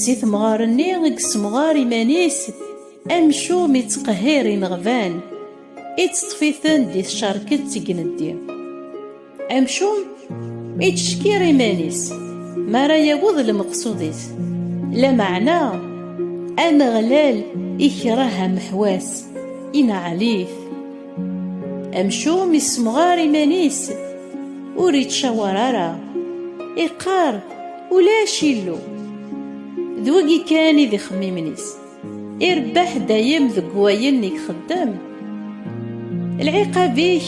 Si temɣer-nni i yessemɣar iman-is, amcum ittqehhir ineɣban, itteṭṭef-iten di tcerket seg ineddi. Amcum ittcekkir iman-is mi ara yawweḍ lmeqsud-is, lameɛna Ameɣlal ikreh ameḥwas, ineɛɛel-it. Amcum yessemɣar iman-is, ur ittcawar ara, iqqar, Ulac illu. D wagi kan i d ixemmimen-is. Irebbeḥ dayem deg wayen i ixeddem. Lɛiqab-ik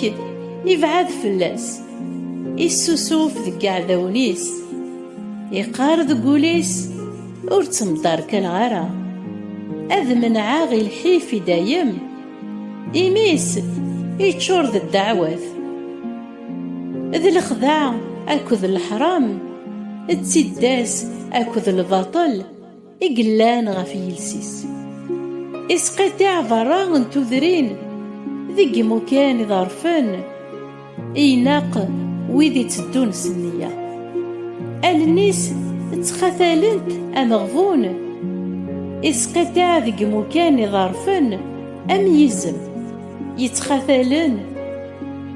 ibɛad fell-as. Issusuf deg yiɛdawen-is. Iqqar deg wul-is, Ur ttemderkaleɣ ara. Ad menɛeɣ i lḥif i dayem. Imi-s iččur d ddeɛwat. d lexda akked leḥram d tiddas akked lbaṭel i yellan ɣef yiles-is isqiṭiɛ berra n tudrin deg imukan iḍerfen i ineq wid itteddun s nniya allen-is ttxatalent ameɣbun isqiṭiɛ deg imukan iḍerfen am yizem Yettxatalen,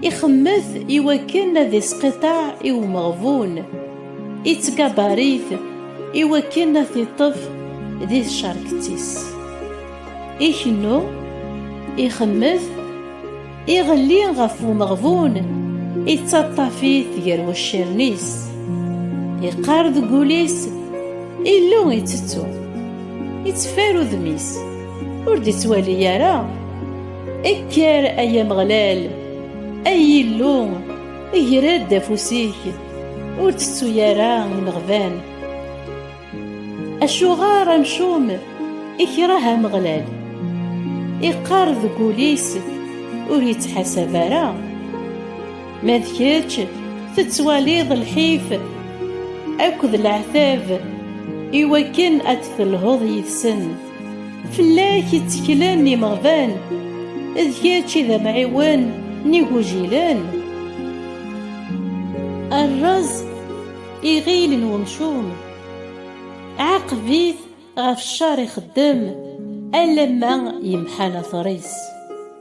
ixemmet i wakken ad isqiṭaɛ i umeɣbun, ittgabarit i wakken ad t-iṭṭef di tcerket-is. Ikennu, ixemmet, iɣelli ɣef umeɣbun, ittaṭṭaf-it gar waccaren-is. Iqqar deg wul-is, Illu itettu, itteffer udem-is. Ur d-ittwali ara Ekker ay Ameɣlal Ay Illu Ger-d afus-ik Ur tettu ara imeɣban Acuɣer amcum ikreh Ameɣlal Iqqar deg ul-is Ur yettḥasab ara Ma d kečč tettwaliḍ lḥif Akked leɛtab Iwakken ad d-telhuḍ yid-sen Fell-ak i tteklen imeɣban, d kečč i d amɛiwen n igujilen. Rrez iɣil n umcum, ɛaqeb-it ɣef ccer ixeddem alamma yemḥa later-is.